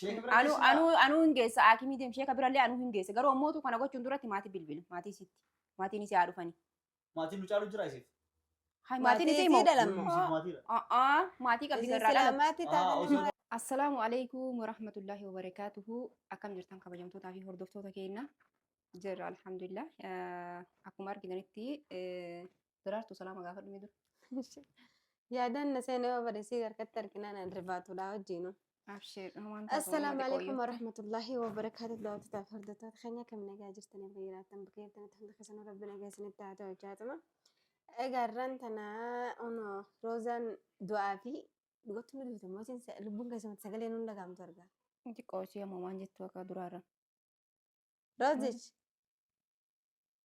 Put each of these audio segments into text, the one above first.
Sheeka bira Anuu geessinaa? anuu anuu hin geessa haakimii deem sheeka birallee anuu hin geessa garuu ammootu kana gochuun duratti maatii bilbila maatii isitti maatiin isii haa dhufanii. Maatiin nu caalu jira isiif. Hai maatiin isii moo? Isiidha lammoo. Isiif maatiidha. A'aa maatii qabdi Isin garraa dhala. silaamaatti Aa, taate osoo- nama Assalaamu alaikum warahmatullahi wabarakaatuhu akkam jirtan kabajamtootaa fi hordoftoota keenya jirra alhamdulillah Eh, akkuma argitanitti eh, Daraartuu salaama gaafadhu mee dura. Yaadaan na seenee yoo bade sii harkatti arginaan an rifaatudha wajjinu. Abshiir waan taatu Assalaamu uummata alaikum qooyyoo. warahmatullahi wabarakaatu daawwattotaaf hordoftoota keenya kam nagaa jirtanii fi jiraattan bakka jirtanitti hunda keessanuu rabbi nagaa isinitti haa ta'u jaatuma. Egaa irraan tanaa ono roozaan du'aa fi dhugattuu ni duute mootiin sa- lubbuun keessumatti sagalee nuun dhagahamtu argaa. Xiqqoo ishee ammoo waan jettu akka duraarra. Roozich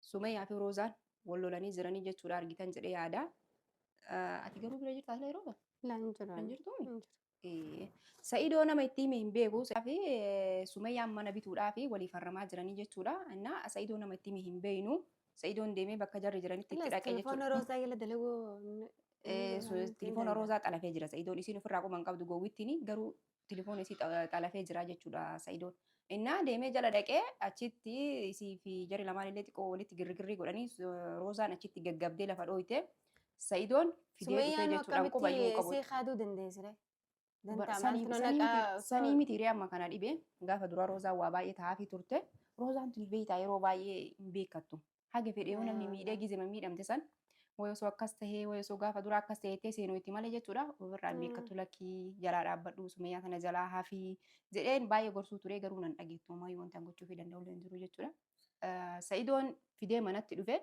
Sumayaa fi Roozaan wal lolanii jiranii jechuudha argitan jedhee yaada. Ah, Ati garuu bira jirtaa sila yeroo kana? Laa hin jiru. Kan jirtu Hin jiru. Eh, Sa'idoo nama itti hime hin beeku. Sa'idoo fi eh, Sumayyaan mana bituudhaa fi walii farramaa jiranii jechuudha. Innaa Sa'idoo nama itti hime hin beeknu. Sa'idoon deemee bakka jarri jiranitti itti Laas dhaqee jechuudha. telefoona roozaa jala dalaguu. Eh, su- Telefoona roozaa xalafee jira. Sa'idoon isiin ofirraa qoma hin qabdu gowwittiin garuu Telefoon isii xalafee jira jechuudha Sa'idoon. Innaa deemee jala dhaqee achitti isii fi jari lamaan illee xiqqoo walitti girgirrii godhanii Roozaan achitti gaggabdee lafa dhooyte. Sa'idoon fidee dhufee Sumayyaan jechuudhaan akkamitti qubayyuu hin qabu. isii kaaduu dandeessire? Dantaa Sanii maaltu na naqaa miti- osoo- sanii miti hiree amma kana dhibee gaafa dura Roozaan waa baay'ee taa'aafii turte. Roozaan tuni beektaa yeroo baay'ee hin beekattu. Haga fedhe yoo namni miidhee gizema miidhamte san wayi osoo akkas tahee wayi osoo gaafa dura akkas tahee jettee seenuu itti malee jechuudha. Ofirraa hin beekkatu lakkii jalaa dhaabbadhu sumeyyaa tana jalaa hafi jedheen baay'ee gorsuu ture garuu nan dhageettu homaa wanti an gochuufii danda'u illee hin jiru jechuudha. Sa'idoon fidee manatti dhufe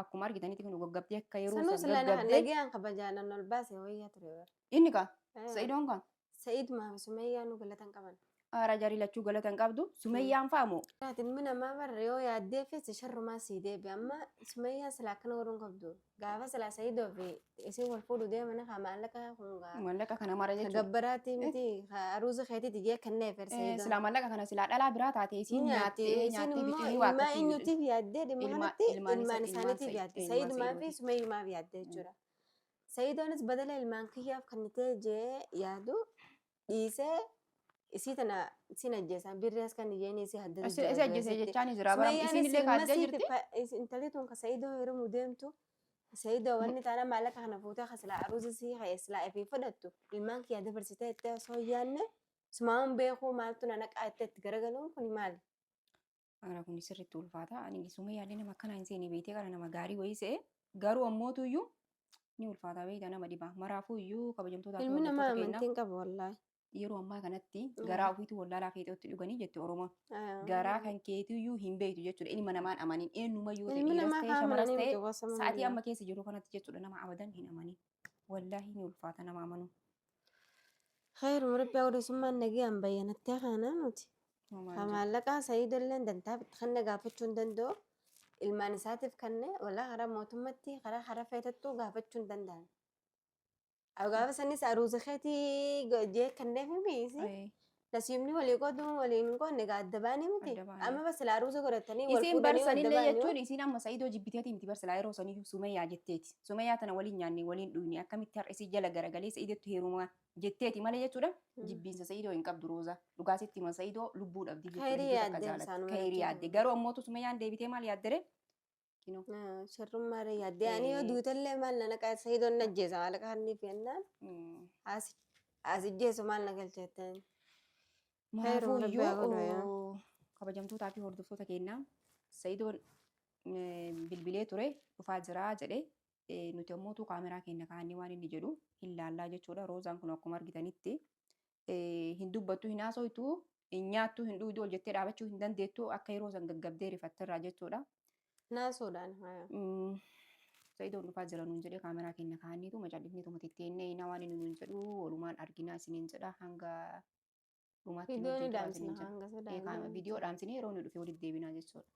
akkuma argitanitti kan gaggabdee akka yeroo Sanuu san sila na gaggabdee nagayaan kabajaan an ol baase wayya ture bar. inni kaa sa'idoon kaa Sa'id maafi Sumayyaa nu galata hin qaban. Aara jarii lachuu galata hin qabdu. Sumayyaan fa'a moo? Ati ilmi namaa barre yoo yaaddee feesse sharrumaa sii deebi. Amma Sumayyaa sila akkana godhuun qabdu. Gaafa sila Sa'idoo fi isin wal fuudhu deemana haa maallaqa kun gaa. Maallaqa kana mara jechuudha. Gabbaraati miti aruuza keetiiti jee kennee fer Sa'idoo. Silaa maallaqa kana silaa dhalaa biraa taate isiin nyaatte nyaattee isin nyaattee immoo bittanii waa ilmaa akkasii eenyuutiif Sayiidoonis badala ilmaan kiyyaaf kannitee jee yaadu dhiisee isii tana sin ajjeesaan birrii as kan iyyeen isii haddatu Isi isi ajjeese jechaan jira bara isiin illee kaajjee jirti. Intalli tun ka Sayiidoo heerumuu deemtu Sayiidoo wanni taana maallaqa kana fuutee ka silaa aruuza sii ka'e silaa ifii fudhattu ilmaan kiyyaa dabarsitee itti osoo hin yaanne sumaamuun beekuu maaltu na naqaa itti itti garagaluun kun maali? Ana kun sirriitti ulfaata. Ani sumee yaallee nama akkanaa hin seene beektee kana nama gaarii wayii se'e. Garuu ammootu iyyuu ni ulfaata beekta nama dhibaa. Maraafuu iyyuu kabajamtootaa fi Ilmi namaa hordoftoota keenyaa amantiin qabu wallaahi. yeroo ammaa kanatti Mm. garaa ofiitu wallaalaa feexootti dhuganii jetti Oromoon. Ayaa. Garaa kan keetii iyyuu hin beektu jechuudha. Ilma namaan amanin eenyuma yoo ta'e Ilmi dhiiras namaa ta'e haa shamaras amananii ta'e miti gosa sa'aatii manaa. amma keessa jiru kanatti jechuudha nama abadan hin amanin. wallaahi ni ulfaata nama amanuu Khayruma rabbi awwalisummaan nagaan bayyanatti hafaanaa nuti. Homaa Ka hin jiru. maallaqaa sayiidolleen dantaaf itti kenne gaafachuu hin danda'u. Ilmaan isaatiif kenne walaa karaa mootummatti karaa karaa feetattuu gaafachuu hin danda'an. Aw gaafa sanis aruuza keetii go- jee kenneef miisi. Ayii. Nasiibni walii qoodu walii hin qoodne egaa adda baanii miti. Adda baanii. Amma bas silaa ruuza godhatanii wal Isiin fuudhanii adda barsanillee baanii. jechuun isiin amma Sa'idoo jibbiteeti miti barsilaa yeroo saniyyuu Sumayyaa jetteeti. Sumayyaa tana waliin nyaanne waliin dhuyne akkamitti har'a isii jala garagalee Sa'idottu heerumaa jetteeti malee jechuudha. Jibbiinsa Sa'idoo hin qabdu Roozaa. Dhugaa sitti hima Sa'idoo lubbuu dhabdi jechuudha. Khayrii hedduu takka yaadde jaalatti. isaanuma Khayrii jechuudha. yaadde. Garuu ammootu Sumayyaan deebitee maal yaaddere? Kinoo. Sharrummaa ree yaaddee ani yoo duutellee maal na naqaa sayidoon na ajjeesa maal kaanniif jennaan as ijjeesu maal na galcha jetteen. Kanaafuu Rabbi haa godhu yaa. iyyuu kabajamtootaa fi hordoftoota keenyaa sayidoon bilbilee ture dhufaa jiraa jedhe nuti ammoo utuu kaameraa keenya kaannee waan inni jedhu hin laallaa jechuudha. Roozaan kun akkuma argitanitti hin dubbattu hin haasoytu hin nyaattu hin dhuudu ol jettee dhaabachuu hin dandeettu akka yeroo san gaggabdee rifatterraa jechuudha. Naasuudhaan. Sa'idoon dhufaa jira nuun jedhee kaameraa keenya kaa'anniitu macallifnee tuma titteennee inaa waan inni nuun jedhu walumaan arginaa isiniin jedha hanga dhumaatti nu Viidiyoon wajjin turaa dhaamsina isiniin hanga jedha. Ee, kaama- sodaa. Viidiyoo dhaamsinee yeroo inni dhufe walitti deebinaa jechuudha.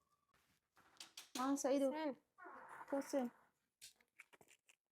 Maa sa'idoo. Sen. Kosseen.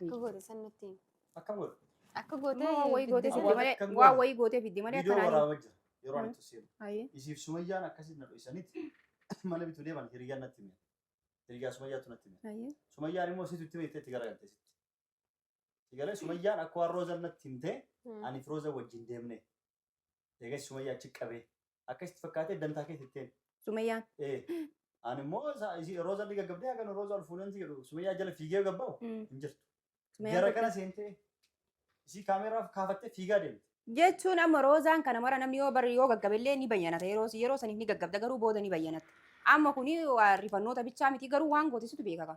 Akka goote san nutti himi. Akka booda. Akka Immoo gootee waan wayii gootee fidde fidde malee Akka waan goone. wayii gootee fidde malee Viidiyoo akkanaa waraabaa jira. Yeroo ani itti seenu. Ayi. Isiif sumayyaan akkasitti na dho'isanitti mana bituu deeman hiriyyaan natti hime. Hiriyyaa sumayyaatu natti hime. Ayi. Sumayyaan immoo isitu itti hime itti garagalte isitti. Sigalee sumayyaan akka waan roozan natti himte Hmm. ani fi roozan wajjin deemne. Eegas Sumayyaa achi qabee. Akka itti fakkaatee dantaa keessa itteen. Sumayyaan. Ee. Ani immoo isaa- isii Roozaa ni gaggabdee hagan Roozaa ol fuuneen si jedhu Sumayyaa jala fiigee gabba'u Mm. hin jirtu. Sumayyaan Gara tokko- kana seentee isii kaameeraa kaafattee fiigaa deemte. Jechuun amma roozaan kana mara namni yoo bari yoo gaggabellee ni bayyanata yeroo yeroo saniif ni gaggabda garuu booda ni bayyanata. Amma kuni waa rifannoota bichaa miti garuu waan gootisutu beekaka.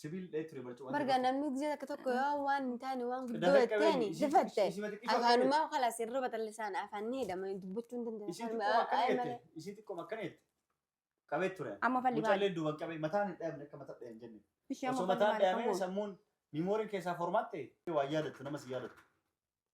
Sibiil dheetti ree barcuma. Barga namni gizee akka tokko yoo waan hin taane waan guddoo jetteen difatte. Afaanumaa kala sirrii batallisaan afaan ni hidhama dubbachuu hin dandeenye. Isiin xiqqoo akkana jette. Isiin xiqqoo akkana jette. Qabee ture. Amma falli baala. Mucallee duuban qabee mataan hin dhaabne akka mataa dhaabne jenne. Osoo mataan dhaabne sammuun miimooriin keessaa formaatti waa yaadattu namas yaadattu.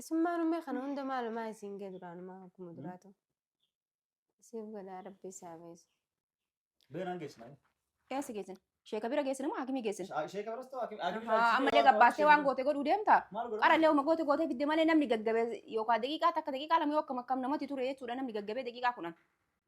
Isummaan ummee kana hunda maalumaa isiin gee duraanumaa akkuma duraatu. Isiif godhaa rabbi isaa beesu. Beenaan geessinaa. Eessa geessin? Sheeka bira geessin moo hakimii geessin? Sheeka biras ta'u hakim. Haa, Ammallee gabbaastee waan goote godhuu deemta. Maal godhaa? Qarallee uma goote gootee fidde malee namni gaggabee yookaan daqiiqaa takka daqiiqaa lama yoo akkam akkam namatti ture jechuudha namni gaggabee daqiiqaa kudhan.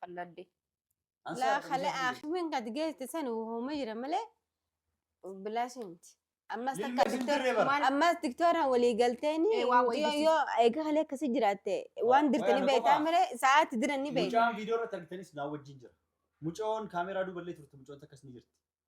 qalladde. Laa kale aakimin gad geesse san hooma jira malee bilaashi miti. Ammas Lilma takka isin diktoor- dirree bara. maal- ammas diktooraan walii galteeni Eh, waa wayii yoo disi. yoo eega kalee akkasii jiraatte waan waan dirtanii ana beektaa qofaa. malee sa'aatti diran ni beekta. Mucaan viidiyoo irratti argitanis naa wajjin jira. Mucoon kaameeraa duuballee turte mucoon takkas ni jirti.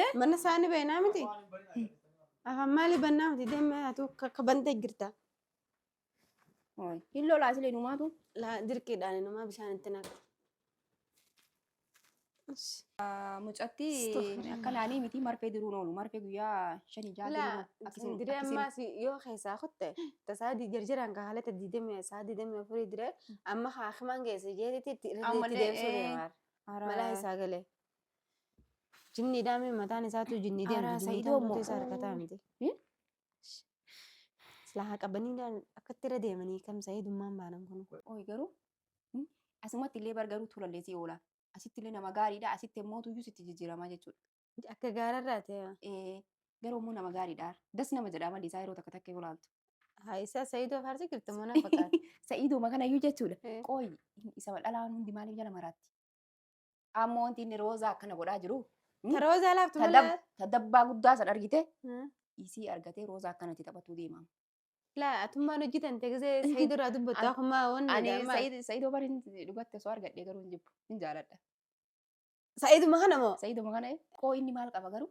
Eh? Mana isaanii bainaa miti. Afaan maalii bannaa miti deemee atu akka bantee jirta. Hooy. Hin lolaa silee numaatu. Laa dirqiidhaan inumaa bishaan itti naqa. Ish. Mucatti Astaghfirullah. akka naanii miti marfee diruun oolu. Marfee guyyaa shanii jaha Laa diruun akkasiin diree akkasiin. ammaa si yoo keessaa kutte tasaa di jarjaraan ka haalata diidamee isaa diidamee afurii diree amma haakimaan geesse jeetitti itti irra Ammallee, itti deemsuu eh, deemaa. Hara- Malaa isaa galee. Jinni dhaame mataan isaatu jinni deemtu. Araa, Jinni Sa'idoo taa'utu immoo. isa harkataa miti. Eh? Silaa haa qabanii dhaan akkatti irra deemanii kam sa'idummaan baanan kun. Ooyi garuu mm, asumatti illee bar garuu tulallee si oola. Asitti illee nama gaariidha. Asitti immoo tuyyuu sitti jijjiiramaa jechuudha. Akka gaararraa ta'e Eh, Garuu immoo nama gaariidha. Das nama jedha amalli isaa yeroo takka takka yoo laaltu. haa isaa sa'idoo faarsi jirtu mana fakkaata. Sa'iiduma kanayyuu jechuudha. Eh. Qooyi inni isa dhalaan hundi maaliif jala maraatti? Ammoo wanti inni roozaa akkana godhaa jiru. hmm? Taroo isaa laaftu Ta malee. dab- ta dabbaa guddaa san argite Hmm. isii argatee roozaa akkanatti taphatuu deema. Laa atummaan hojjetan teeksee sa'ii duraa dubbattu An- akkuma wanni Ani jedhama. Sa'iid- Sa'iidoo bariin dhugatte osoo argadhee garuu hin jibbu. Hin jaaladha. Sa'iiduma kana moo? Sa'iiduma kana qoo inni maal qaba garuu?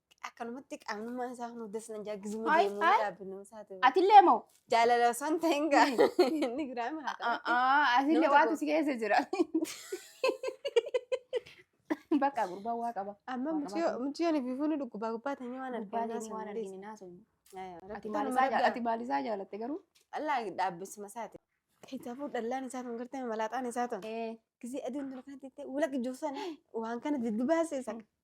Akkanumatti qaamnummaa isaa hundas nan jaakkisuma Ay, deemuu ay. dhaabbinnuu isaa ta'e. Atillee moo? Jaalala osoo hin ta'in gaa. Inni giraama haa ta'u. A'aa, Atillee Nama waatu tokko. si keessa jira. Bakka gurbaa waa qaba. Amma Waa muciyoo qabaatu. muciyoon bifuun dhukkubaa gubbaa ta'e waan Gubbaa arginu deemee waan argine naasofne. Ati maal isaa jaa- ati maal isaa jaalatte garuu? Allaa dhaabbisuma isaati. Kitaabuu dhallaan isaa tun gartee malaaxaan isaa tun. Eh, Gisee aduun tun kan ta'e walaqa ijoofsan waan kana diddibaase isa.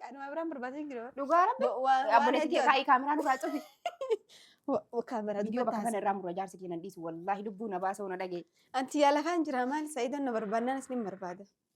Qaaduma biraan barbaadee hin jiru. Dhugaa rabbi. Abboleessi kee kaayii kaameraa nurraa cufi. Kaameraa Viidiyoo bakka kana irraa murra jaarsi kee nan dhiisu wallaahi lubbuu na baasa ona dhagee. Anti yaa lafaan jira maal sa'idoon na barbaadnaan isni hin barbaada.